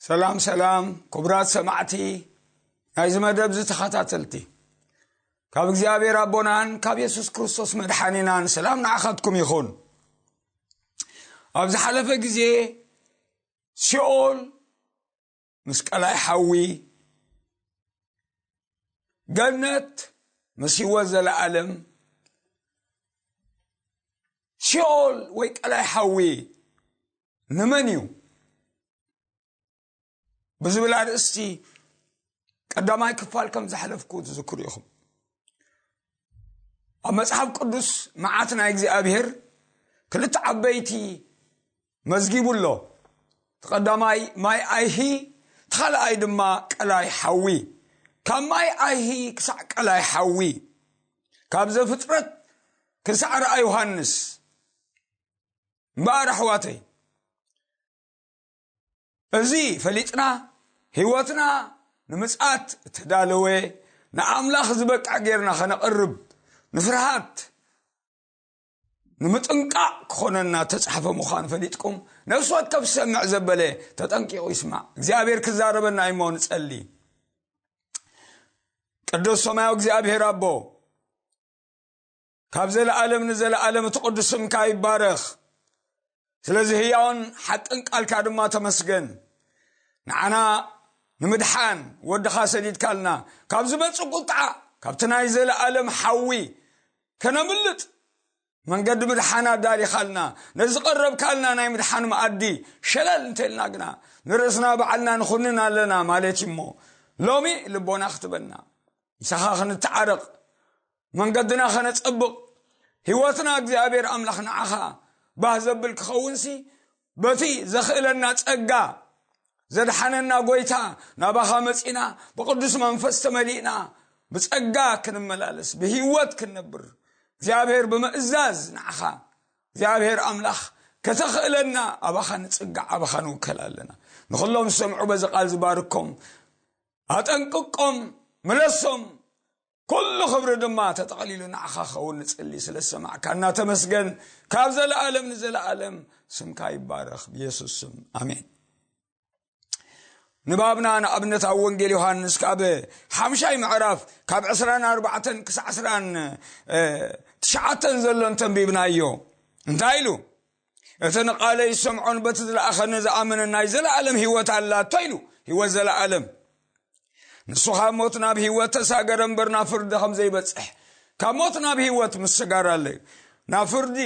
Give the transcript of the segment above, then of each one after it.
ሰላም ሰላም ክቡራት ሰማዕቲ ናይዚ መደብ ዚ ተኸታተልቲ ካብ እግዚኣብሔር ኣቦናን ካብ የሱስ ክርስቶስ መድሓኒናን ሰላም ንዓኻትኩም ይኹን ኣብ ዝሓለፈ ግዜ ሲኦል ምስ ቀላይ ሓዊ ገነት ምስ ህይወት ዘለኣለም ሲኦል ወይ ቀላይ ሓዊ ንመን እዩ ብዝብል ኣርእስቲ ቀዳማይ ክፋል ከም ዝሓለፍኩ ትዝክሩ ኢኹም ኣብ መጽሓፍ ቅዱስ መዓት ናይ እግዚኣብሄር ክልተ ዓበይቲ መዝጊቡ ኣሎ። እቲ ቀዳማይ ማይ ኣይሂ፣ እቲ ኻልኣይ ድማ ቀላይ ሓዊ። ካብ ማይ ኣይሂ ክሳዕ ቀላይ ሓዊ፣ ካብ ዘፍጥረት ክሳዕ ራእይ ዮሃንስ እምበኣር ኣሕዋተይ እዚ ፈሊጥና ህይወትና ንምፅኣት እተዳለወ ንኣምላኽ ዝበቅዕ ጌርና ኸነቕርብ ንፍርሃት ንምጥንቃቕ ክኾነና ተጻሕፈ ምዃኑ ፈሊጥኩም ነፍሲ ወከፍ ዝሰምዕ ዘበለ ተጠንቂቑ ይስማዕ እግዚኣብሔር ክዛረበና እዩሞ ንጸሊ ቅዱስ ሰማያዊ እግዚኣብሔር ኣቦ ካብ ዘለኣለም ንዘለኣለም እቲ ቅዱስ ስምካ ይባረኽ ስለዚ ህያውን ሓቅን ቃልካ ድማ ተመስገን ንዓና ንምድሓን ወድኻ ሰዲድካልና ካብ ዝመፅእ ቁጥዓ ካብቲ ናይ ዘለኣለም ሓዊ ከነምልጥ መንገዲ ምድሓን ኣዳሊኻልና ነዚ ቀረብካልና ናይ ምድሓን መኣዲ ሸለል እንተልና ግና ንርእስና በዓልና ንኹንን ኣለና ማለት እዩ እሞ ሎሚ ልቦና ክትበና ምሳኻ ክንተዓረቕ መንገድና ከነጸብቕ ህይወትና እግዚኣብሔር ኣምላኽ ንዓኻ ባህ ዘብል ክኸውንሲ በቲ ዘኽእለና ጸጋ ዘድሓነና ጐይታ ናባኻ መጺና ብቕዱስ መንፈስ ተመሊእና ብጸጋ ክንመላለስ ብህይወት ክንነብር እግዚኣብሔር ብምእዛዝ ንዓኻ እግዚኣብሔር ኣምላኽ ከተኽእለና ኣባኻ ንጽጋዕ ኣባኻ ንውከል ኣለና ንዅሎም ዝሰምዑ በዚ ቓል ዝባርኮም ኣጠንቅቆም ምለሶም ኩሉ ክብሪ ድማ ተጠቕሊሉ ንዓኻ ክኸውን ንጽሊ ስለ ዝሰማዕካና ተመስገን ካብ ዘለኣለም ንዘለኣለም ስምካ ይባረኽ ብየሱስ ስም ኣሜን ንባብና ንኣብነት ኣብ ወንጌል ዮሃንስ ካብ ሓምሻይ ምዕራፍ ካብ 24 ክሳዕ 29 ዘሎ እንተንቢብናዮ እንታይ ኢሉ እቲ ንቓለይ ዝሰምዖን በቲ ዝለኣኸኒ ዝኣምንን ናይ ዘለኣለም ህይወት ኣላቶ ኢሉ ህይወት ዘለኣለም ንሱ ካብ ሞት ናብ ህይወት ተሳገረ እምበር ናብ ፍርዲ ከም ዘይበፅሕ ካብ ሞት ናብ ህይወት ምስጋር ኣለ እዩ ናብ ፍርዲ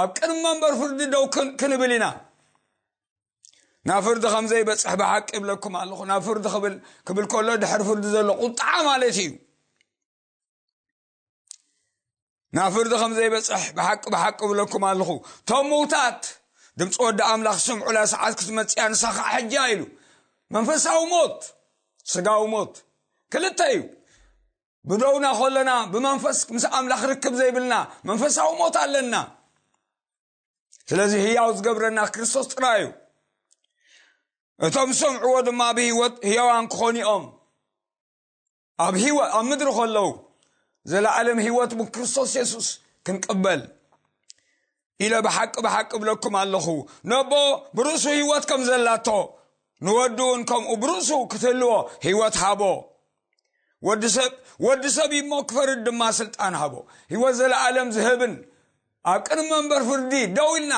ኣብ ቅድሚ መንበር ፍርዲ ደው ክንብል ኢና ናብ ፍርዲ ከም ዘይበፅሕ ብሓቂ ይብለኩም ኣለኹ ናብ ፍርዲ ክብል ክብል ከሎ ድሕሪ ፍርዲ ዘሎ ቁጣዓ ማለት እዩ ናብ ፍርዲ ከም ዘይበፅሕ ብሓቂ ብሓቂ እብለኩም ኣለኹ እቶም ምውታት ድምፂ ወዲ ኣምላኽ ስምዑላ ሰዓት ክትመፅያ ንሳኻ ሕጃ ኢሉ መንፈሳዊ ሞት ስጋዊ ሞት ክልተ እዩ ብደውና ከለና ብመንፈስ ምስ ኣምላኽ ርክብ ዘይብልና መንፈሳዊ ሞት ኣለና ስለዚ ህያው ዝገብረና ክርስቶስ ጥራይ እዩ እቶም ዝሰምዕዎ ድማ ብህይወት ህያዋን ክኾኑ እዮም ኣብ ህይወት ኣብ ምድሪ ከለዉ ዘለዓለም ህይወት ብክርስቶስ የሱስ ክንቅበል ኢለ ብሓቂ ብሓቂ ብለኩም ኣለኹ ነቦ ብርእሱ ህይወት ከም ዘላቶ ንወዱ እውን ከምኡ ብርእሱ ክትህልዎ ህይወት ሃቦ ወዲ ሰብ ወዲ ሰብ እሞ ክፈርድ ድማ ስልጣን ሃቦ ህይወት ዘለዓለም ዝህብን ኣብ ቅድሚ መንበር ፍርዲ ደው ኢልና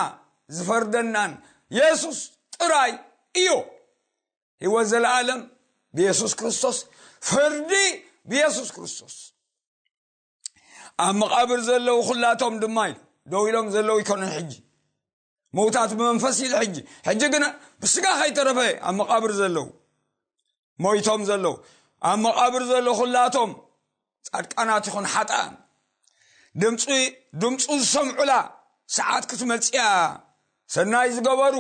ዝፈርደናን የሱስ ጥራይ እዩ ህይወት ዘለዓለም ብየሱስ ክርስቶስ ፍርዲ ብየሱስ ክርስቶስ ኣብ መቓብር ዘለዉ ኩላቶም ድማ ኢሉ ደው ኢሎም ዘለዉ ይኮነን ሕጂ ምውታት ብመንፈስ ኢሉ ሕጂ ሕጂ ግና ብስጋ ከይተረፈ ኣብ መቓብር ዘለዉ ሞይቶም ዘለዉ ኣብ መቓብር ዘሎ ኩላቶም ጻድቃናት ይኹን ሓጣን ድምፂ ድምፁ ዝሰምዑላ ሰዓት ክትመፅያ ሰናይ ዝገበሩ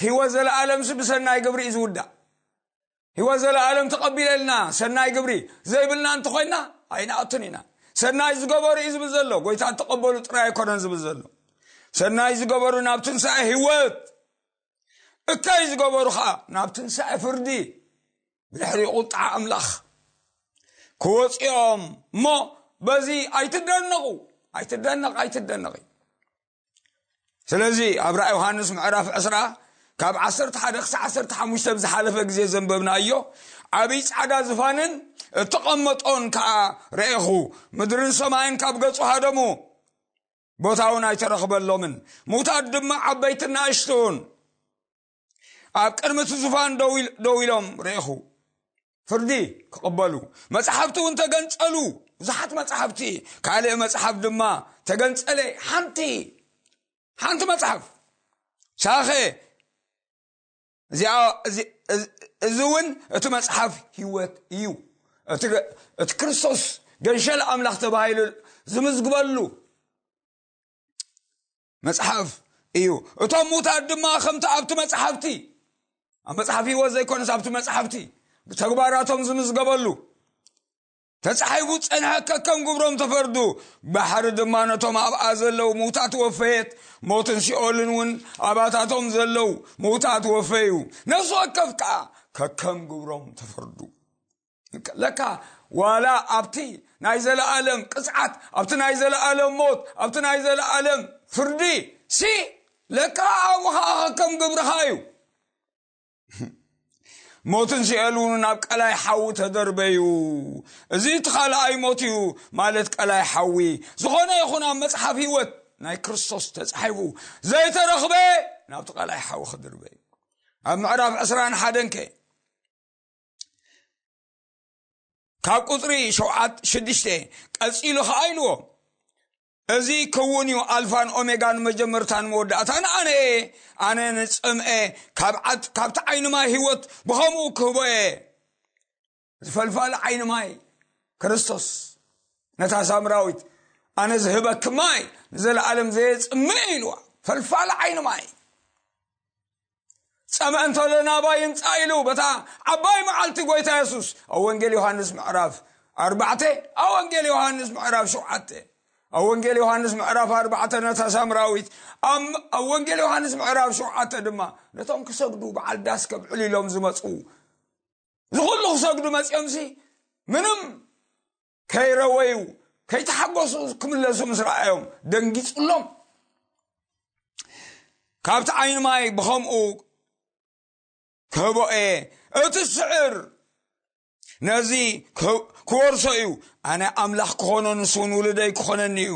ሕይወት ዘለዓለምሲ ብሰናይ ግብሪ እዩ ዝውዳእ ሕይወት ዘለዓለም ተቐቢለልና ሰናይ ግብሪ ዘይብልና እንተኾይና ኣይንኣቱን ኢና ሰናይ ዝገበሩ እዩ ዝብል ዘሎ ጎይታ እተቐበሉ ጥራይ ኣይኮነን ዝብል ዘሎ ሰናይ ዝገበሩ ናብ ትንሳኤ ህይወት እከይ ዝገበሩ ከዓ ናብ ትንሳኤ ፍርዲ ብድሕሪ ቁጣዓ ኣምላኽ ክወፅኦም እሞ በዚ ኣይትደነቑ ኣይትደነቕ ኣይትደነቕ እዩ ስለዚ ኣብ ራእ ዮሃንስ ምዕራፍ ዕስራ ካብ ዓሰርተ ሓደ ክሳዕ ዓሰርተ ሓሙሽተ ብ ዝሓለፈ ግዜ ዘንበብና እዮ ዓብይ ፃዕዳ ዝፋንን እተቐመጦን ከዓ ረኤኹ ምድርን ሰማይን ካብ ገጹ ሃደሙ ቦታ እውን ኣይተረኽበሎምን ሙታት ድማ ዓበይትና እሽቱን ኣብ ቅድሚ እቲ ዙፋን ደው ኢሎም ርኢኹ ፍርዲ ክቕበሉ መፅሓፍቲ እውን ተገንፀሉ ብዙሓት መፅሓፍቲ ካልእ መፅሓፍ ድማ ተገንፀለ ሓንቲ ሓንቲ መፅሓፍ ሳኸ እዚ እውን እቲ መፅሓፍ ህይወት እዩ እቲ ክርስቶስ ገንሸል ኣምላኽ ተባሂሉ ዝምዝግበሉ መጽሓፍ እዩ እቶም ሙታት ድማ ከምቲ ኣብቲ መጽሓፍቲ ኣብ መጽሓፍ ህይወት ዘይኮነስ ኣብቲ መጽሓፍቲ ብተግባራቶም ዝምዝገበሉ ተጻሒፉ ጸንሐ ከከም ግብሮም ተፈርዱ ባሕሪ ድማ ነቶም ኣብኣ ዘለዉ ምውታት ወፈየት ሞትን ሲኦልን እውን ኣባታቶም ዘለዉ ምውታት ወፈዩ ነፍሲ ወከፍ ከዓ ከከም ግብሮም ተፈርዱ ከለካ ዋላ ኣብቲ ናይ ዘለኣለም ቅፅዓት ኣብቲ ናይ ዘለኣለም ሞት ኣብቲ ናይ ዘለኣለም ፍርዲ ሲ ለካ ኣብኡ ከዓ ከም ግብርኻ እዩ ሞትን ሲኤል እውን ናብ ቀላይ ሓዊ ተደርበዩ እዚ እቲ ካልኣይ ሞት እዩ ማለት ቀላይ ሓዊ ዝኾነ ይኹን ኣብ መፅሓፍ ህይወት ናይ ክርስቶስ ተፃሒፉ ዘይተረኽበ ናብቲ ቀላይ ሓዊ ክድርበ እዩ ኣብ ምዕራፍ ዕስራን ሓደን ከ ካብ ቁፅሪ ሸውዓት ሽዱሽተ ቀፂሉ ከዓ ኢልዎ እዚ ክውን እዩ ኣልፋን ኦሜጋን መጀመርታን መወዳእታን ኣነ እየ ኣነ ንፅምአ ካብዓት ካብቲ ዓይኒ ማይ ህይወት ብኸምኡ ክህቦ እየ ዝፈልፋል ዓይኒ ማይ ክርስቶስ ነታ ሳምራዊት ኣነ ዝህበኪ ማይ ንዘለኣለም ዘየፅምእ ኢልዋ ፈልፋል ዓይኒ ማይ ጸምእ እንተሎ ናባይ ይምጻእ ኢሉ በታ ዓባይ መዓልቲ ጐይታ የሱስ ኣብ ወንጌል ዮሃንስ ምዕራፍ ኣርባዕተ ኣብ ወንጌል ዮሃንስ ምዕራፍ ሸውዓተ ኣብ ወንጌል ዮሃንስ ምዕራፍ ኣርባዕተ ነታ ሳምራዊት ኣብ ወንጌል ዮሃንስ ምዕራፍ ሸውዓተ ድማ ነቶም ክሰግዱ በዓል ዳስ ከብዕሉ ኢሎም ዝመፁ ዝኹሉ ክሰግዱ መፂኦምሲ ምንም ከይረወዩ ከይተሓጎሱ ክምለሱ ምስ ረኣዮም ደንጊጹሎም ካብቲ ዓይኒ ማይ ብኸምኡ ክህቦ እየ እቲ ስዕር ነዚ ክወርሶ እዩ ኣነ ኣምላኽ ክኾኖ ንስውን ውልደይ ክኾነኒ እዩ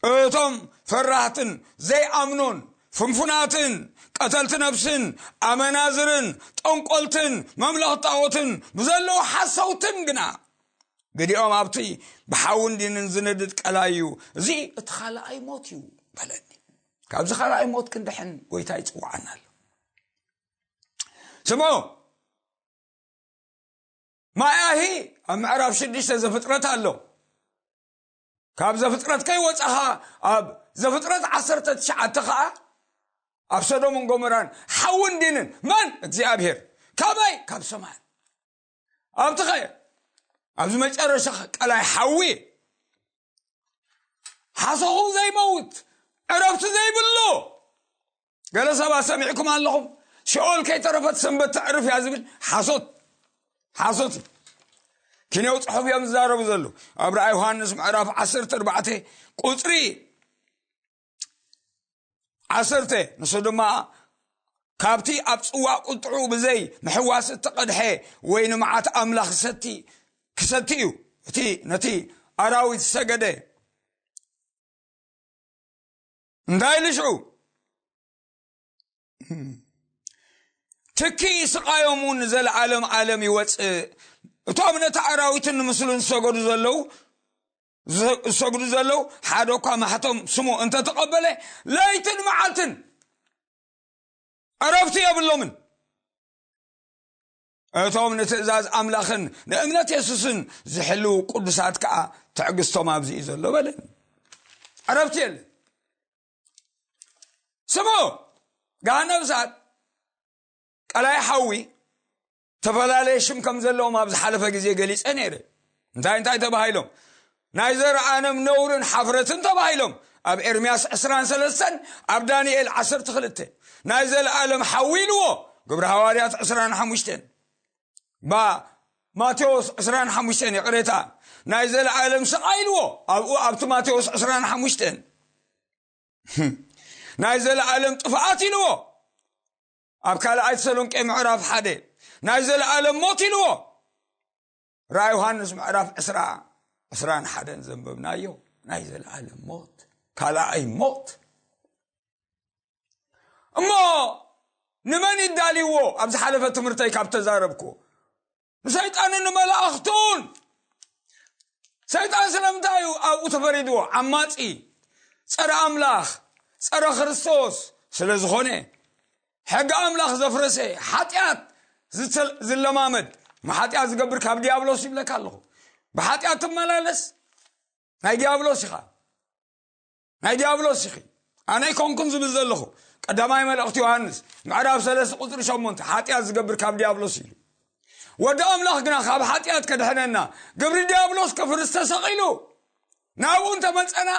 እቶም ፈራህትን ዘይኣምኑን ፍንፉናትን ቀተልቲ ነብስን ኣመናዝርን ጠንቆልትን መምለኽ ጣዖትን ብዘለዉ ሓሰውትን ግና ግዲኦም ኣብቲ ብሓውን ዲንን ዝነድድ ቀላይ እዩ እዚ እቲ ካልኣይ ሞት እዩ በለኒ ካብዚ ካልኣይ ሞት ክንድሕን ጎይታ ይፅዋዓና ኣሎ ስሞ ማያሂ ኣብ ምዕራፍ ሽዱሽተ ዘፍጥረት ኣሎ ካብ ዘፍጥረት ከይወፃኻ ኣብ ዘፍጥረት ዓሰርተ ትሽዓተ ከዓ ኣብ ሰዶምን ጎመራን ሓውን ዲንን መን እግዚኣብሄር ካበይ ካብ ሰማይ ኣብቲ ኸ ኣብዚ መጨረሻ ቀላይ ሓዊ ሓሶኹ ዘይመውት ዕረብቲ ዘይብሉ ገለ ሰባት ሰሚዕኩም ኣለኹም ሲኦል ከይተረፈት ሰንበት ተዕርፍ እያ ዝብል ሓሶት ሓሶት እዩ ኪንያው ፅሑፍ እዮም ዝዛረቡ ዘለዉ ኣብ ርኣ ዮሃንስ ምዕራፍ 14 ቁፅሪ ዓሰርተ ንሱ ድማ ካብቲ ኣብ ፅዋ ቁጥዑ ብዘይ ምሕዋስ እተቐድሐ ወይ ንመዓት ኣምላኽ ሰቲ ክሰቲ እዩ እቲ ነቲ ኣራዊት ሰገደ እንታይ ኢሉ ሽዑ ትኪ ስቃዮም እውን ዘለዓለም ዓለም ይወፅእ እቶም ነቲ ኣራዊትን ንምስሉን ዝሰገዱ ዘለዉ ዝሰግዱ ዘለዉ ሓደ እኳ ማሕቶም ስሙ እንተተቐበለ ለይትን መዓልትን ዕረፍቲ የብሎምን እቶም ንትእዛዝ ኣምላኽን ንእምነት የሱስን ዝሕልው ቅዱሳት ከዓ ትዕግስቶም ኣብዚ እዩ ዘሎ በለ ዕረፍቲ የለ ስሙ ጋነብሳት ቀላይ ሓዊ ዝተፈላለየ ሽም ከም ዘለዎም ኣብ ዝሓለፈ ግዜ ገሊፀ ነይረ እንታይ እንታይ ተባሂሎም ናይ ዘረኣንም ነውርን ሓፍረትን ተባሂሎም ኣብ ኤርምያስ 23 ኣብ ዳንኤል 12 ናይ ዘለኣለም ሓዊ ኢልዎ ግብሪ ሃዋርያት 25 ባ ማቴዎስ 25 ይቕሬታ ናይ ዘለኣለም ስቓይ ኢልዎ ኣብኡ ኣብቲ ማቴዎስ 25 ናይ ዘለኣለም ጥፍኣት ኢልዎ ኣብ ካልኣይ ተሰሎንቄ ምዕራፍ ሓደ ናይ ዘለኣለም ሞት ኢልዎ ራእይ ዮሃንስ ምዕራፍ ዕስራ ዕስራን ሓደን ዘንበብናዮ ናይ ዘለዓለም ሞት ካልኣይ ሞት እሞ ንመን ይዳልይዎ ኣብ ዝሓለፈ ትምህርተይ ካብ ተዛረብኩ ንሰይጣንን ንመላእኽቱን ሰይጣን ስለምንታይ እዩ ኣብኡ ተፈሪድዎ ዓማፂ ፀረ ኣምላኽ ፀረ ክርስቶስ ስለ ዝኾነ ሕጊ ኣምላኽ ዘፍረሰ ሓጢኣት ዝለማመድ ንሓጢኣት ዝገብር ካብ ዲያብሎስ ይብለካ ኣለኹ ብሓጢኣት ትመላለስ ናይ ዲያብሎስ ኢኻ ናይ ዲያብሎስ ኢኺ ኣነ ኣይኮንኩን ዝብል ዘለኹ ቀዳማይ መልእኽቲ ዮሃንስ ምዕራብ ሰለስተ ቁፅሪ ሸሞንተ ሓጢኣት ዝገብር ካብ ዲያብሎስ ኢሉ ወዲ ኣምላኽ ግና ካብ ሓጢኣት ከድሕነና ግብሪ ዲያብሎስ ከፍርስ ተሰቒሉ ናብኡ እንተ መጸና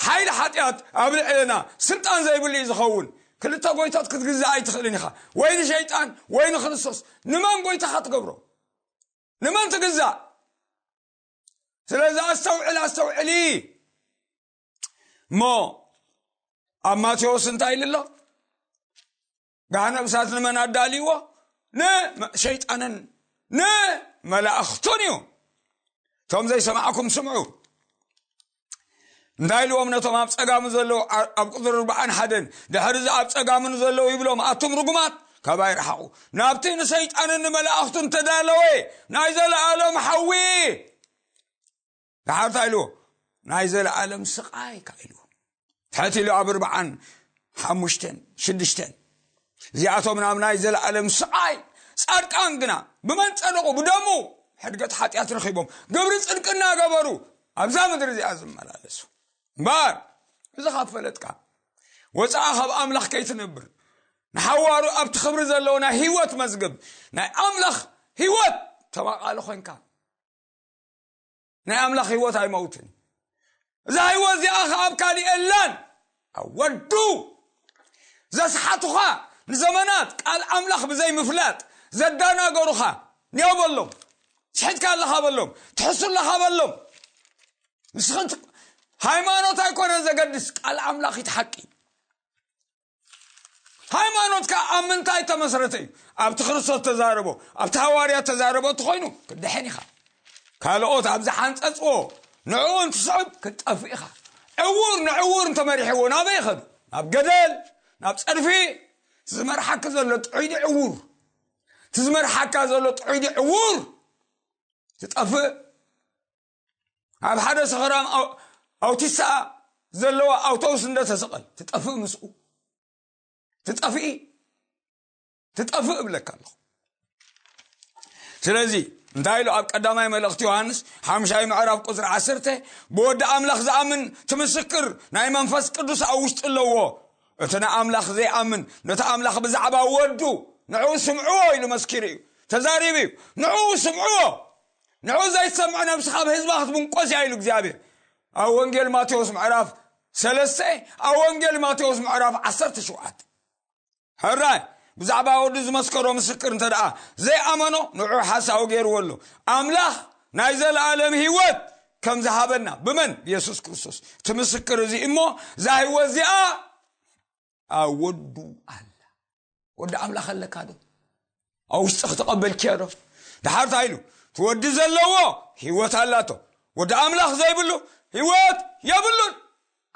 ሓይሊ ሓጢኣት ኣብ ልዕለና ስልጣን ዘይብሉ እዩ ዝኸውን። ክልተ ጎይቶት ክትግዛእ ኣይትኽእልን ኢኻ፣ ወይ ንሸይጣን ወይ ንክርስቶስ። ንመን ጎይታኻ ትገብሮ? ንመን ትግዛእ? ስለዚ ኣስተውዕል ኣስተውዕሊ እሞ ኣብ ማቴዎስ እንታይ ኢሉ ኣሎ? ጋህነብ እሳት ንመን ኣዳልይዎ ንሸይጣንን ንመላእኽቱን እዩ እቶም ዘይሰማዕኩም ስምዑ እንታይ ኢልዎም ነቶም ኣብ ፀጋሙ ዘለዉ ኣብ ቁፅሪ ርብዓን ሓደን ድሕሪ እዚ ኣብ ፀጋሙ ንዘለዉ ይብሎም ኣቱም ርጉማት ካባይ ረሓቑ ናብቲ ንሰይጣንን ንመላእኽቱን ተዳለወ ናይ ዘለኣሎም ሓዊ ደሓር እንታይ ኢልዎ ናይ ዘለኣለም ስቓይ ካ ኢልዎ ትሐት ኢሉ ኣብ ርብዓን ሓሙሽተን ሽዱሽተን እዚኣቶም ናብ ናይ ዘለኣለም ስቓይ ጻድቃን ግና ብመን ጸደቑ ብደሙ ሕድገት ሓጢኣት ረኺቦም ግብሪ ጽድቂ እናገበሩ ኣብዛ ምድሪ እዚኣ ዝመላለሱ እምበር እዚ ካብ ፈለጥካ ወፃኣ ካብ ኣምላኽ ከይትነብር ንሓዋሩ ኣብቲ ክብሪ ዘለዎ ናይ ህይወት መዝገብ ናይ ኣምላኽ ህይወት ተማቓሊ ኮንካ ናይ ኣምላኽ ህይወት ኣይመውትን እዩ እዛ ህይወት እዚኣ ኸዓ ኣብ ካሊእ የላን ኣብ ወዱ ዘስሓቱኻ ንዘመናት ቃል ኣምላኽ ብዘይምፍላጥ ዘዳናገሩኻ ኒዮ በሎም ስሒትካ ኣለኻ በሎም ትሕሱ ኣለኻ በሎም ንስኽን ሃይማኖት ኣይኮነን ዘገድስ ቃል ኣምላኽ ይትሓቂ ሃይማኖት ከ ኣብ ምንታይ ተመስረተ እዩ ኣብቲ ክርስቶስ ተዛረቦ ኣብቲ ሃዋርያ ተዛረቦ እትኮይኑ ክድሐን ኢኻ ካልኦት ኣብ ዝሓንፀፅዎ ንዕኡ እንትስዕብ ክትጠፍእ ኢኻ ዕውር ንዕውር እንተመሪሕዎ ናበይ ይኸዱ ናብ ገደል ናብ ፀድፊ ዝመርሓኪ ዘሎ ጥዑይዲ ዕውር እቲ ዝመርሓካ ዘሎ ጥዑይዲ ዕውር ትጠፍእ ኣብ ሓደ ሰኸራም ኣውቲስኣ ዘለዋ ኣውቶቡስ እንደተሰቐል ትጠፍእ ምስኡ ትጠፍኢ ትጠፍእ እብለካ ኣለኹ ስለዚ እንታይ ኢሉ ኣብ ቀዳማይ መልእኽቲ ዮሃንስ ሓምሻይ ምዕራፍ ቁፅሪ ዓሰርተ ብወዲ ኣምላኽ ዝኣምን ትምስክር ናይ መንፈስ ቅዱስ ኣብ ውሽጢ ኣለዎ እቲ ንኣምላኽ ዘይኣምን ነቲ ኣምላኽ ብዛዕባ ወዱ ንዕኡ ስምዕዎ ኢሉ መስኪሩ እዩ ተዛሪቡ እዩ ንዕኡ ስምዕዎ ንዑ ዘይትሰምዕ ነብሲ ካብ ህዝባ ክትብንቆስ እያ ኢሉ እግዚኣብሔር ኣብ ወንጌል ማቴዎስ ምዕራፍ ሰለስተ ኣብ ወንጌል ማቴዎስ ምዕራፍ ዓሰርተ ሸውዓተ ሕራይ ብዛዕባ ወዱ ዝመስከሮ ምስክር እንተ ደኣ ዘይኣመኖ ንዑ ሓሳዊ ገይርዎ ኣሎ ኣምላኽ ናይ ዘለኣለም ህይወት ከም ዝሃበና ብመን ብየሱስ ክርስቶስ እቲ ምስክር እዚ እሞ እዛ ህይወት እዚኣ ኣብ ወዱ ኣላ ወዲ ኣምላኽ ኣለካ ዶ ኣብ ውሽጢ ክተቐበልኪዮ ዶ ድሓር እንታይ ኢሉ እቲ ወዲ ዘለዎ ህይወት ኣላቶ ወዲ ኣምላኽ ዘይብሉ ህይወት የብሉን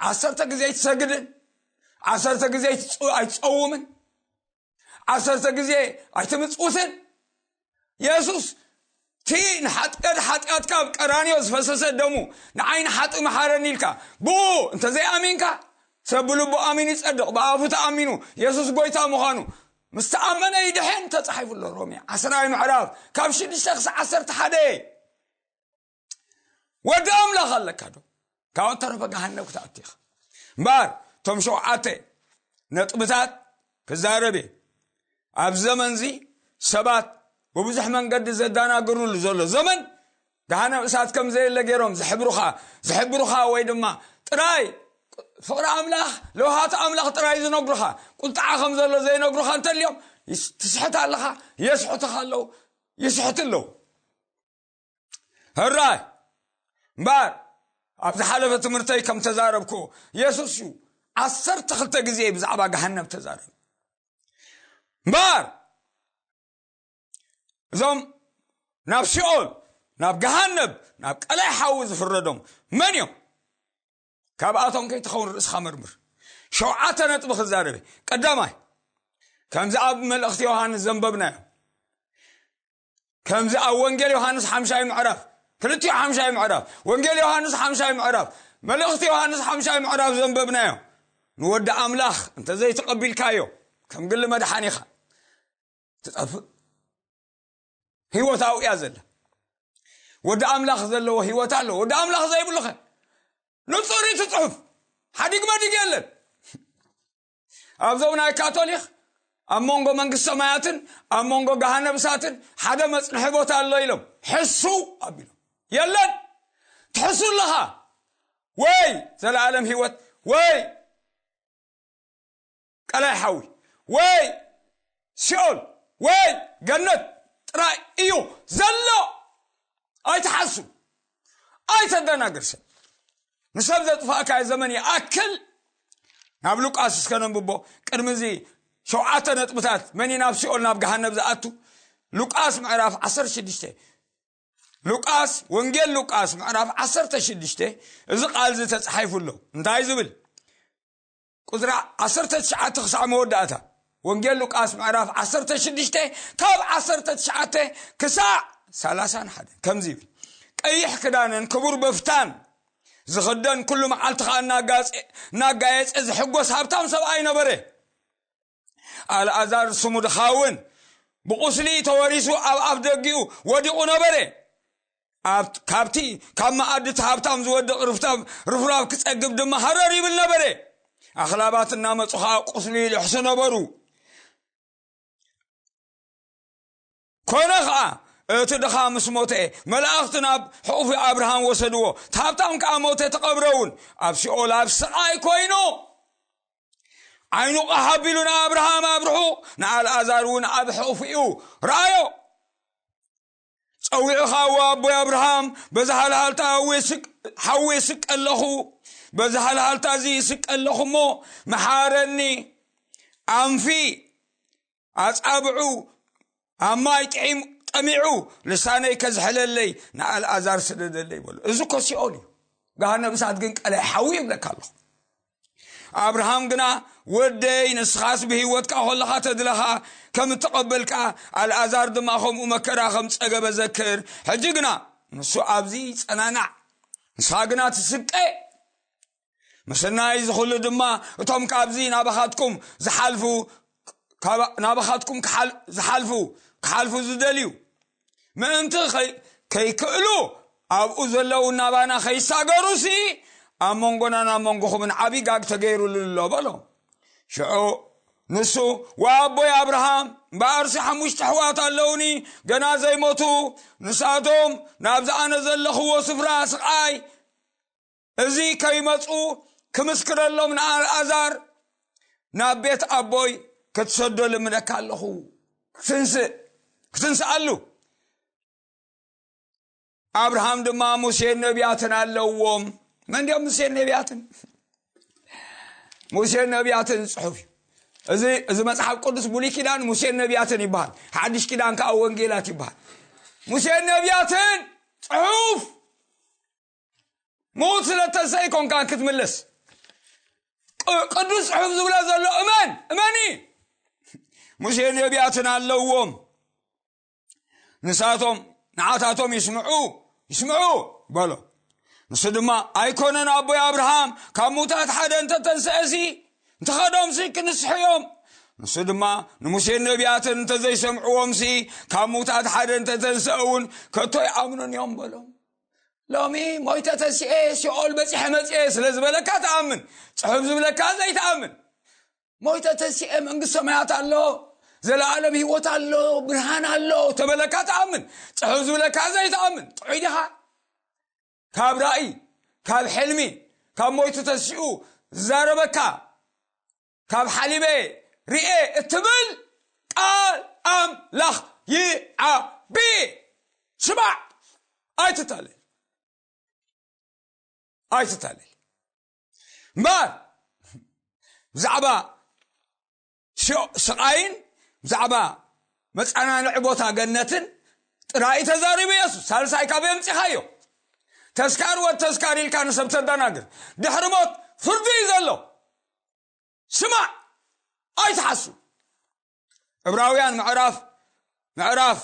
ዓሰርተ ግዜ ኣይትሰግድን ዓሰርተ ግዜ ኣይትፀውምን ዓሰርተ ግዜ ኣይትምፅውትን የሱስ እቲ ንሓጥቀድ ሓጢኣትካ ኣብ ቀራንዮ ዝፈሰሰ ደሙ ንዓይ ንሓጢ መሓረኒ ኢልካ ብኡ እንተዘይኣሚንካ ሰብ ብልቡ ኣሚኑ ይፀድቕ ብኣፉ ተኣሚኑ የሱስ ጎይታ ምዃኑ ምስ ተኣመነ ይድሕን ተፃሒፉ ኣሎ ሮሜ ዓስራይ ምዕራፍ ካብ ሽዱሽተ ክሳብ ዓሰርተ ሓደ ወዲ ኣምላኽ ኣለካ ዶ ካብ እተረፈ ገሃነብ ክትኣቱ ኢኻ እምበኣር እቶም ሸውዓተ ነጥብታት ክዛረብ እየ ኣብ ዘመን እዚ ሰባት ብብዙሕ መንገዲ ዘዳናግርሉ ዘሎ ዘመን ገሃነብ እሳት ከም ዘየለ ገይሮም ዝሕብሩኻ ዝሕብሩኻ ወይ ድማ ጥራይ ፍቕሪ ኣምላኽ ለውሃት ኣምላኽ ጥራይ ዝነግሩኻ ቁልጣዓ ከም ዘሎ ዘይነግሩኻ እንተልዮም ትስሕት ኣለኻ የስሕትኻ ኣለዉ ይስሕት ኣለዉ ህራይ እምበኣር ኣብ ዝሓለፈ ትምህርተይ ከም ተዛረብኩ የሱስ እዩ ዓሰርተ ክልተ ግዜ ብዛዕባ ገሃነብ ተዛረብ እምበኣር እዞም ናብ ሲኦል ናብ ገሃነብ ናብ ቀላይ ሓዊ ዝፍረዶም መን እዮም ካብኣቶም ከይትኸውን ርእስኻ መርምር ሸውዓተ ነጥቢ ክዛረበ ቀዳማይ ከምዚ ኣብ መልእኽቲ ዮሃንስ ዘንበብናዮ ከምዚ ኣብ ወንጌል ዮሃንስ ሓምሻይ ምዕራፍ ክልቲኡ ሓምሻይ ምዕራፍ ወንጌል ዮሃንስ ሓምሻይ ምዕራፍ መልእኽቲ ዮሃንስ ሓምሻይ ምዕራፍ ዘንበብናዮ ንወዲ ኣምላኽ እንተዘይተቐቢልካዮ ከም ግሊ መድሓኒኻ ትጠፍእ ህይወታዊ እያ ዘላ ወዲ ኣምላኽ ዘለዎ ህይወት ኣሎ ወዲ ኣምላኽ ዘይብሉኸ ንፁር እቲ ፅሑፍ ሓዲግ መዲግ የለን ኣብዞም ናይ ካቶሊክ ኣብ መንጎ መንግስት ሰማያትን ኣብ መንጎ ጋሃነብሳትን ሓደ መፅንሒ ቦታ ኣሎ ኢሎም ሕሱ ኣቢሎም የለን ትሕሱ ኣለኻ ወይ ዘለዓለም ህይወት ወይ ቀላይ ሓዊ ወይ ሲኦል ወይ ገነት ጥራይ እዩ ዘሎ ኣይትሓሱ ኣይተደናግር ሰብ ንሰብ ዘጥፋእካዮ ዘመን ይኣክል ናብ ሉቃስ እስከ ነንብቦ ቅድሚ እዚ ሸውዓተ ነጥብታት መን ናብ ሲኦል ናብ ገሃነብ ዝኣቱ ሉቃስ ምዕራፍ 16 ሉቃስ ወንጌል ሉቃስ ምዕራፍ 16 እዚ ቃል እዚ ተጻሒፉ ኣሎ እንታይ ዝብል ቁጽሪ ዓሰርተ ትሽዓተ ክሳዕ መወዳእታ ወንጌል ሉቃስ ምዕራፍ ዓሰርተ ሽዱሽተ ካብ ዓሰርተ ትሽዓተ ክሳዕ ሰላሳን ሓደን ከምዚ ይብል ቀይሕ ክዳንን ክቡር በፍታን ዝኽደን ኩሉ መዓልቲ ከዓ እናጋየፀ ዝሕጎስ ሃብታም ሰብኣይ ነበረ ኣልኣዛር ስሙ ድኻውን ብቑስሊ ተወሪሱ ኣብ ኣፍ ደጊኡ ወዲቑ ነበረ ካብቲ ካብ መኣድቲ ሃብታም ዝወድቕ ርፍታብ ርፍራብ ክጸግብ ድማ ሃረር ይብል ነበረ ኣኽላባት እናመጹ ከዓ ቁስሉ ይልሕሱ ነበሩ ኰነ ኸኣ፣ እቲ ድኻ ምስ ሞተ፣ መላእኽቲ ናብ ሕቝፊ ኣብርሃም ወሰድዎ፣ እቲ ሃብታም ከኣ ሞተ፣ ተቐብረ እውን። ኣብ ሲኦል ኣብ ስቓይ ኰይኑ፣ ዓይኑ ቐሕ ኣቢሉ ንኣብርሃም ኣብ ርሑቕ፣ ንኣልኣዛር እውን ኣብ ሕቝፊኡ ረኣዮ። ጸዊዑ ኸኣ፣ እወ ኣቦይ ኣብርሃም፣ በዚ ሃልሃልታ ሓዊ እስቀ ኣለኹ፣ በዚ ሃልሃልታ እዚ እስቀ ኣለኹ እሞ፣ መሓረኒ፣ ኣንፊ ኣጻብዑ ኣብ ማይ ጥዒም ጠሚዑ ልሳነይ ከዝሕለለይ ንኣልኣዛር ስደደለይ በሉ እዚ ኮ ሲኦል እዩ ገሃነብ እሳት ግን ቀላይ ሓዊ ይብለካ ኣለኹ ኣብርሃም ግና ወደይ ንስኻስ ብህይወትካ ኮለኻ ተድለኻ ከም እተቐበልካ ኣልኣዛር ድማ ከምኡ መከራ ከም ጸገበ ዘክር ሕጂ ግና ንሱ ኣብዚ ጸናናዕ ንስኻ ግና ትስቀ ምስናይ እዚ ዅሉ ድማ እቶም ካብዚ ናባኻትኩም ዝሓልፉ ናባኻትኩም ዝሓልፉ ክሓልፉ ዝደልዩ ምእንቲ ከይክእሉ ኣብኡ ዘለዉ ናባና ከይሳገሩሲ ኣብ መንጎናን ኣብ መንጎኹምን ዓብዪ ጋግ ተገይሩሉ ኣሎ በሎ ሽዑ ንሱ ወኣቦይ ኣብርሃም እምበኣርሲ ሓሙሽተ ኣሕዋት ኣለውኒ ገና ዘይሞቱ ንሳቶም ናብዚ ኣነ ዘለኽዎ ስፍራ ስቓይ እዚ ከይመፁ ክምስክረሎም ንኣልኣዛር ናብ ቤት ኣቦይ ክትሰዶ ልምነካ ኣለኹ ክትንስእ ክትንስኣሉ ኣብርሃም ድማ ሙሴን ነቢያትን ኣለዎም መን እንዲኦም ሙሴን ነቢያትን ሙሴን ነቢያትን ዝፅሑፍ እዩ እዚ እዚ መፅሓፍ ቅዱስ ብሉይ ኪዳን ሙሴን ነቢያትን ይበሃል ሓድሽ ኪዳን ከዓ ወንጌላት ይበሃል ሙሴን ነቢያትን ፅሑፍ ምዉት ስለ እተሰይኮንካ ክትምልስ ቅዱስ ጽሑፍ ዝብሎ ዘሎ እመን እመኒ ሙሴ ነቢያትን ኣለዎም ንሳቶም ንዓታቶም ይስምዑ ይስምዑ በሎ ንሱ ድማ ኣይኮነን ኣቦይ ኣብርሃም ካብ ምዉታት ሓደ እንተተንስአሲ እንተኸዶምሲ ክንስሑ እዮም ንሱ ድማ ንሙሴን ነቢያትን እንተዘይሰምዕዎምሲ ካብ ምዉታት ሓደ እንተተንስአ እውን ከቶ ይኣምኑን እዮም በሎም ሎሚ ሞይተ ተስኤ ሲኦል በፂሐ መፅኤ ስለ ዝበለካ ትኣምን ፅሑፍ ዝብለካ ዘይትኣምን ሞይተ ተስኤ መንግስት ሰማያት ኣሎ ዘለኣለም ህይወት ኣሎ ብርሃን ኣሎ ተበለካ ትኣምን ፅሑፍ ዝብለካ ዘይትኣምን ጥዑይ ድኻ ካብ ራእይ ካብ ሕልሚ ካብ ሞይቱ ተሲኡ ዝዛረበካ ካብ ሓሊበ ርኤ እትብል ቃል ኣምላኽ ይዓቢ ስማዕ ኣይትታለል ኣይትታለል እምበር ብዛዕባ ስቃይን ብዛዕባ መፀናንዒ ቦታ ገነትን ጥራይ ተዛሪቡ የሱስ ሳልሳይ ካብ የምፂኻዮ ተስካር ወድ ተስካር ኢልካ ንሰብ ተደናግር ድሕሪ ሞት ፍርዲ እዩ ዘሎ ስማዕ ኣይትሓሱ ዕብራውያን ምዕራፍ ምዕራፍ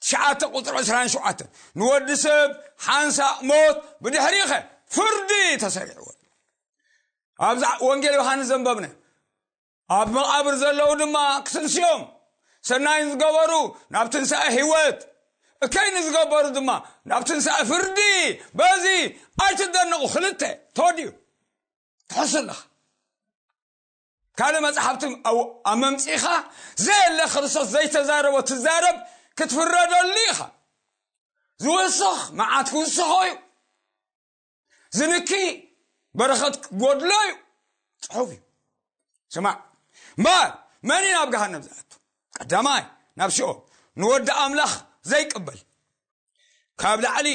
ትሽዓተ ቁፅሪ ዕስራን ሸውዓተን ንወዲ ሰብ ሓንሳእ ሞት ብድሕሪኸ ፍርዲ ተሰሪዕዎ ኣብ ወንጌል ዮሃንስ ዘንበብነ ኣብ መቓብር ዘለዉ ድማ ክትንስኦም ሰናይን ዝገበሩ ናብ ትንሳኤ ህይወት እከይ ንዝገበሩ ድማ ናብ ትንሳኤ ፍርዲ በዚ ኣይትደንቑ ክልተ ተወዲኡ ትሕሱ ኣለኻ ካልእ መፅሓፍቲ ኣብ መምፅኢኻ ዘየለ ክርስቶስ ዘይተዛረቦ ትዛረብ ክትፍረደሉ ኢኻ ዝወስኽ መዓት ክውስኾ እዩ ዝንኪ በረኸት ጎድሎ እዩ ፅሑፍ እዩ ስማዕ እምበር መን እዩ ናብ ገሃነብ ዝኣቱ ቀዳማይ ናብ ሲኦል ንወዲ ኣምላኽ ዘይቅበል ካብ ላዕሊ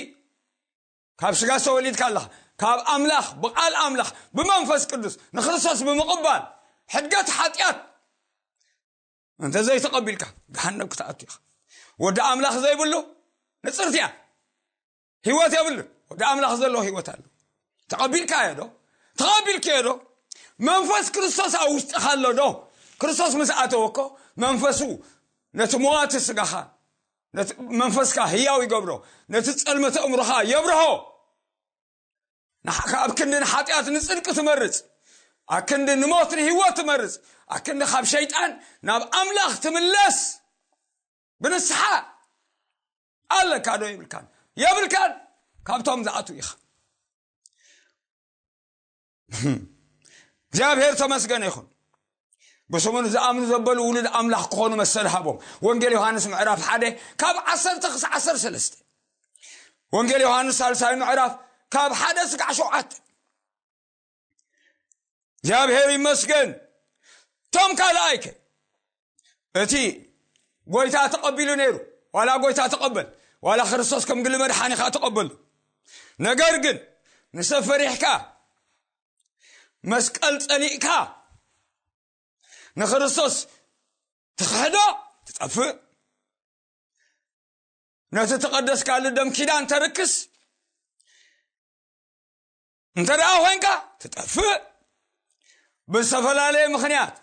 ካብ ስጋ ዝተወሊድካ ኣለኻ ካብ ኣምላኽ ብቓል ኣምላኽ ብመንፈስ ቅዱስ ንክርስቶስ ብምቕባል ሕድገት ሓጢኣት እንተ ዘይተቐቢልካ ገሃነብ ክትኣቱ ኢኻ ወዲ ኣምላኽ ዘይብሉ ንፅርቲ እያ ህይወት የብሉ ወዲ ኣምላኽ ዘለዎ ህይወት ኣሎ ተቐቢልካ እየ ዶ ተቐቢልክ እየ ዶ መንፈስ ክርስቶስ ኣብ ውሽጥኻ ኣሎ ዶ ክርስቶስ ምስ ኣተወኮ መንፈሱ ነቲ መዋቲ ስጋኻ መንፈስካ ህያው ይገብሮ ነቲ ጸልመተ እምሮኻ የብርሆ ንሓካ ኣብ ክንዲ ንሓጢኣት ንጽድቂ ትመርጽ ኣብ ክንዲ ንሞት ንህይወት ትመርጽ ኣብ ክንዲ ካብ ሸይጣን ናብ ኣምላኽ ትምለስ ብንስሓ ኣለካ ዶ የብልካን የብልካን ካብቶም ዝኣትው ኢኻ እግዚኣብሔር ተመስገን ይኹን ብስሙን ዝኣምኑ ዘበሉ ውሉድ ኣምላኽ ክኾኑ መሰል ሃቦም ወንጌል ዮሃንስ ምዕራፍ ሓደ ካብ ዓሰርተ ክሳዕ ዓሰርተ ሰለስተ ወንጌል ዮሃንስ ሳልሳይ ምዕራፍ ካብ ሓደ ስጋዕ ሸውዓተ እግዚኣብሔር ይመስገን እቶም ካልኣይከ እቲ ጎይታ ተቐቢሉ ነይሩ ዋላ ጎይታ ተቐበል ዋላ ክርስቶስ ከም ግሊ መድሓኒኻ ተቐበሉ ነገር ግን ንሰብ ፈሪሕካ መስቀል ጸሊእካ ንክርስቶስ ትኽሕዶ ትጠፍእ ነቲ ተቐደስካሉ ደም ኪዳን ተርክስ እንተ ደኣ ኾይንካ ትጠፍእ ብዝተፈላለየ ምኽንያት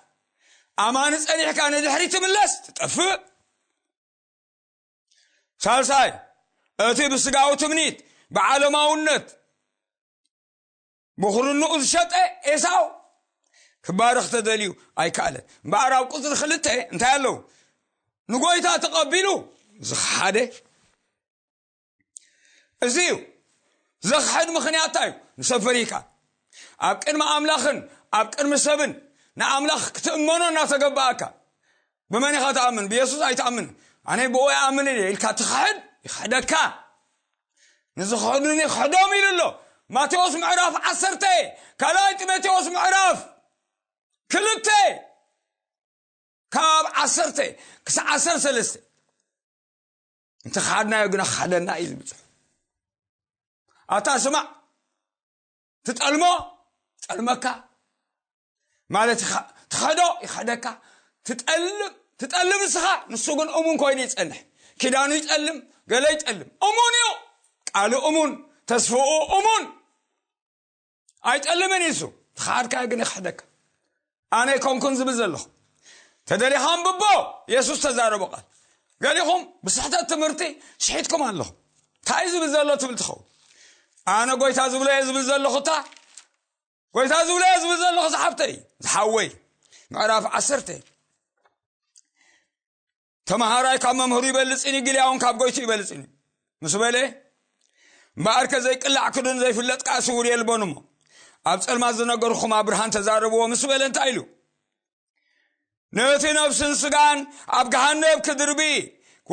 ኣማኒ ጸኒሕካ ንድሕሪ ትምለስ ትጠፍእ ሳልሳይ እቲ ብስጋዊ ትምኒት ብዓለማውነት ብኹርንኡ ዝሸጠ ኤሳው ክባርኽ ተደልዩ ኣይከኣለን እምበኣር ኣብ ቁፅሪ ክልተ እንታይ ኣለዉ ንጎይታ ተቐቢሉ ዝኸሓደ እዚ እዩ ዘኽሕድ ምኽንያት እንታይ እዩ ንሰብ ፈሪካ ኣብ ቅድሚ ኣምላኽን ኣብ ቅድሚ ሰብን ንኣምላኽ ክትእመኖ እናተገባኣካ ብመን ኢኻ ትኣምን ብየሱስ ኣይትኣምን ኣነ ብኡ ይኣምን እየ ኢልካ ትኽሕድ ይኽሕደካ ንዝኽሕዱኒ ክሕዶም ኢሉ ኣሎ ማቴዎስ ምዕራፍ ዓሰርተ ካልኣይ ጢሞቴዎስ ምዕራፍ ክልተ ካብ ዓሰርተ ክሳዕ ዓሰርተ ሰለስተ እንተ ኸሓድናዮ ግና ክሓደና እዩ ዝብል ፅሑፍ ኣታ ስማዕ ትጠልሞ ጠልመካ ማለት ትኸዶ ይኸደካ ትጠልም ትጠልም ንስኻ ንሱ ግን እሙን ኮይኑ ይፀንሕ ኪዳኑ ይጠልም ገለ ይጠልም እሙን እዩ ቃሉ እሙን ተስፍኡ እሙን ኣይጠልምን እዩ እሱ ተኻድካዮ ግን ይክሕደካ ኣነ ኣይኮንኩን ዝብል ዘለኹ ተደሊኻ ኣንብቦ የሱስ ተዛረቦ ቃል ገሊኹም ብስሕተት ትምህርቲ ሽሒትኩም ኣለኹም እንታይ እዩ ዝብል ዘሎ ትብል ትኸውን ኣነ ጎይታ ዝብሎ እየ ዝብል ዘለኹ እታ ጎይታ ዝብሎ እየ ዝብል ዘለኹ ዝሓብተይ ዝሓወይ ምዕራፍ ዓሰርተ ተምሃራይ ካብ መምህሩ ይበልፅን እዩ ግልያውን ካብ ጎይቱ ይበልፅን እዩ ምስ በለ እምበኣር ከ ዘይቅላዕ ክዱን ዘይፍለጥ ከዓ ስውር የልቦን እሞ ኣብ ፀልማት ዝነገርኹም ኣብ ብርሃን ተዛረብዎ ምስ በለ እንታይ ኢሉ ነቲ ነፍስን ስጋን ኣብ ገሃነብ ክድርቢ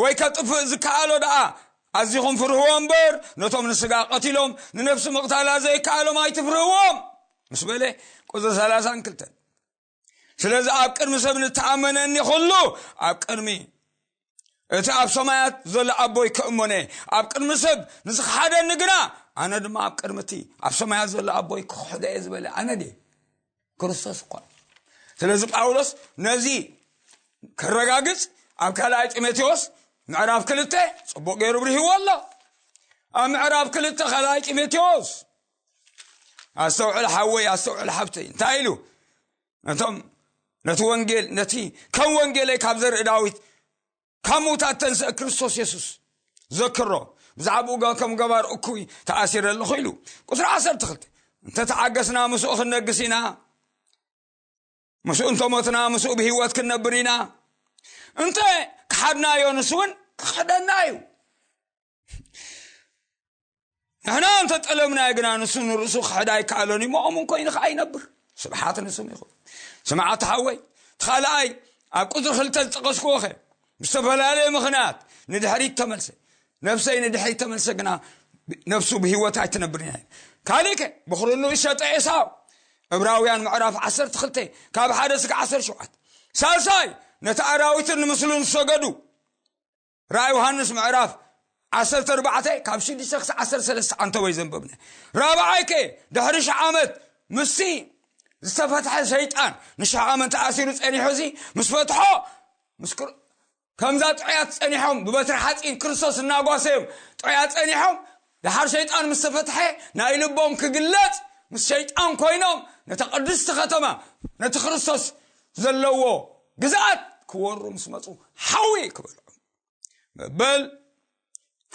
ወይ ከጥፍእ ዝከኣሎ ደኣ ኣዚኹም ፍርህዎ እምበር ነቶም ንስጋ ቀቲሎም ንነፍሲ ምቕታላ ዘይከኣሎም ኣይትፍርህዎም ምስ በለ ቁፅሪ 32 ስለዚ ኣብ ቅድሚ ሰብ ንተኣመነኒ ኩሉ ኣብ ቅድሚ እቲ ኣብ ሰማያት ዘሎ ኣቦይ ክእመነ ኣብ ቅድሚ ሰብ ንዝክሓደኒ ግና ኣነ ድማ ኣብ ቅድሚ እቲ ኣብ ሰማያት ዘሎ ኣቦይ ክክሕዶ እየ ዝበለ ኣነ ድ ክርስቶስ እኳ ስለዚ ጳውሎስ ነዚ ክረጋግፅ ኣብ ካልኣይ ጢሞቴዎስ ምዕራፍ ክልተ ፅቡቅ ገይሩ ብርህዎ ኣሎ ኣብ ምዕራፍ ክልተ ካልኣይ ጢሞቴዎስ ኣስተውዕል ሓወይ ኣስተውዕል ሓብተይ እንታይ ኢሉ ነቶም ነቲ ወንጌል ነቲ ከም ወንጌለይ ካብ ዘርኢ ዳዊት ካብ ምውታት ተንስአ ክርስቶስ የሱስ ዘክሮ ብዛዕባኡ ከም ገባር እኩይ ተኣሲረ ኣለኹ ኢሉ ቁፅሪ ዓሰርተ ክልተ እንተተዓገስና ምስኡ ክንነግስ ኢና ምስኡ እንተሞትና ምስኡ ብሂወት ክንነብር ኢና እንተ ክሓድናዮ ንሱ እውን ክኸደና እዩ ንሕና እንተ ጠለምናዮ ግና ንሱ ንርእሱ ክሕድ ኣይከኣሎን እዩ ሞኦም ን ኮይኑ ከዓ ይነብር ስብሓት ንስም ይኹን ስምዓት ሓወይ ትኻልኣይ ኣብ ቁፅሪ ክልተ ዝጠቐስክዎ ኸ ብዝተፈላለየ ምኽንያት ንድሕሪት ተመልሰ ነብሰይ ንድሕሪት ተመልሰ ግና ነብሱ ብሂወት ኣይትነብር ኢና ካልእ ከ ብኽርኑ እሸጠ ኤሳው እብራውያን ምዕራፍ 12 ካብ ሓደ ስጋ 17 ሳልሳይ ነቲ ኣራዊትን ንምስሉን ዝሰገዱ ራእይ ዮሃንስ ምዕራፍ ዓሰርተ ኣርባዕተ ካብ ሽዱሽተ ክሳብ ዓሰርተ ሰለስተ ኣንተወይ ዘንበብነ ራብዓይ ከ ድሕሪ ሽሕ ዓመት ምስቲ ዝተፈትሐ ሰይጣን ንሽሕ ዓመት ተኣሲሩ ጸኒሑ እዚ ምስ ፈትሖ ከምዛ ጥዑያት ጸኒሖም ብበትሪ ሓፂን ክርስቶስ እናጓሰዮም ጥዑያት ጸኒሖም ደሓር ሸይጣን ምስ ተፈትሐ ናይ ልቦም ክግለጽ ምስ ሸይጣን ኮይኖም ነታ ቅድስቲ ከተማ ነቲ ክርስቶስ ዘለዎ ግዝኣት ክወሩ ምስ መጹ ሓዊ ክበልዑ መበል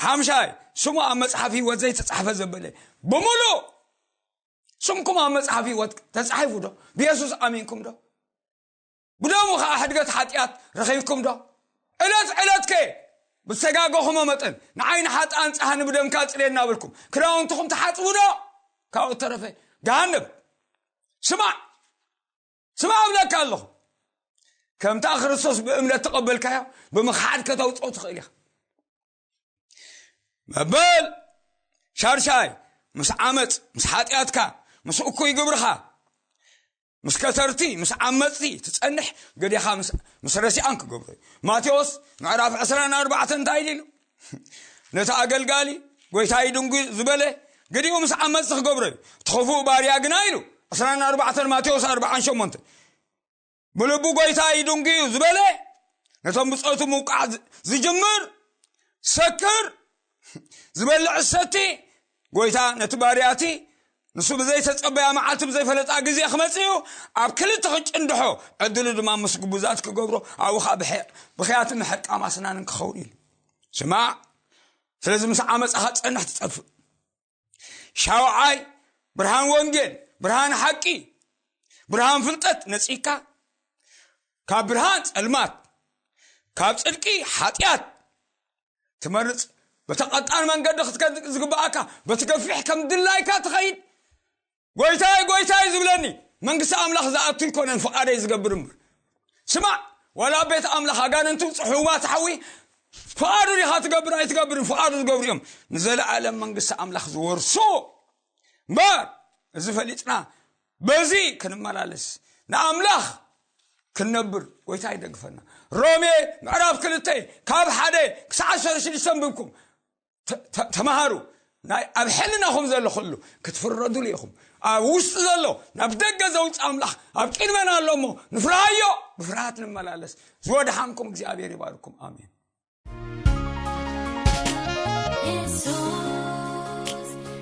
ሓምሻይ ስሙ ኣብ መፅሓፍ ህይወት ዘይተፃሕፈ ዘበለ ብምሉእ ስምኩም ኣብ መፅሓፍ ህይወት ተፃሒፉ ዶ ብየሱስ ኣሚንኩም ዶ ብደሙ ኸኣ ሕድገት ሓጢኣት ረኺብኩምዶ? ዕለት ዕለትከ ብዝተጋገኹሞ መጠን ንዓይ ንሓጥኣን ጸሃኒ ብደምካ ጽሬ እናበልኩም ክዳውንትኹም ትሓጽቡዶ? ካብኡ እተረፈ ገሃነብ ስማዕ ስማዕ እብለካ ኣለኹ ከምታ ክርስቶስ ብእምነት ተቐበልካዮ ብምኽሓድ ከተውጽኦ ትኽእል ኢኻ መበል ሻድሻይ ምስ ዓመፅ ምስ ሓጢኣትካ ምስ እኩይ ግብርኻ ምስ ከተርቲ ምስ ዓመፅቲ ትፀንሕ ገዲኻ ምስ ረሲኣን ክገብሩ እዩ ማቴዎስ ምዕራፍ 24 እንታይ ኢሉ ነቲ ኣገልጋሊ ጎይታይ ድንጉ ዝበለ ገዲኡ ምስ ዓመፅቲ ክገብሮ እዩ እቲ ክፉእ ባርያ ግና ኢሉ 24 ማቴዎስ 48 ብልቡ ጎይታ ይድንጉ እዩ ዝበለ ነቶም ብፆቱ ምውቃዕ ዝጅምር ሰክር ዝበልዕ ሰቲ ጎይታ ነቲ ባርያቲ ንሱ ብዘይተፀበያ መዓልቲ ብዘይፈለጣ ግዜ ክመፅእ እዩ ኣብ ክልተ ክጭንድሖ ዕድሉ ድማ ምስ ግቡዛት ክገብሮ ኣብኡ ከዓ ብክያት ምሕቃም ኣስናንን ክኸውን ኢሉ ስማዕ ስለዚ ምስ ዓመፃኻ ፀንሕ ትጠፍእ ሻውዓይ ብርሃን ወንጌል ብርሃን ሓቂ ብርሃን ፍልጠት ነፂካ ካብ ብርሃን ፀልማት ካብ ፅድቂ ሓጢኣት ትመርፅ በቲ ቀጣን መንገዲ ክትከድ ዝግብኣካ በቲ ገፊሕ ከም ድላይካ ትኸይድ ጐይታይ ጐይታይ ዝብለኒ መንግስቲ ኣምላኽ ዝኣቱ ኣይኰነን ፍቓደይ ዝገብር እምበር ስማዕ ዋላ ኣብ ቤት ኣምላኽ ኣጋንንቱ ጽሑባት ሓዊ ፍቓዱ ዲኻ ትገብር ኣይትገብርን ፍቓዱ ዝገብሩ እዮም ንዘለኣለም መንግስቲ ኣምላኽ ዝወርሱ እምበር እዚ ፈሊጥና በዚ ክንመላለስ ንኣምላኽ ክንነብር ጎይታ ይደግፈና ሮሜ ምዕራፍ ክልተ ካብ ሓደ ክሳዕ ዓሰርተ ሽዱሽተ ንብብኩም ተማሃሩ ናይ ኣብ ሕልናኹም ዘሎ ኹሉ ክትፍረዱሉ ኢኹም ኣብ ውሽጢ ዘሎ ናብ ደገ ዘውፅ ኣምላኽ ኣብ ቅድመና ኣሎ እሞ ንፍርሃዮ ብፍርሃት ንመላለስ ዝወድሓንኩም እግዚኣብሔር ይባርኩም ኣሜን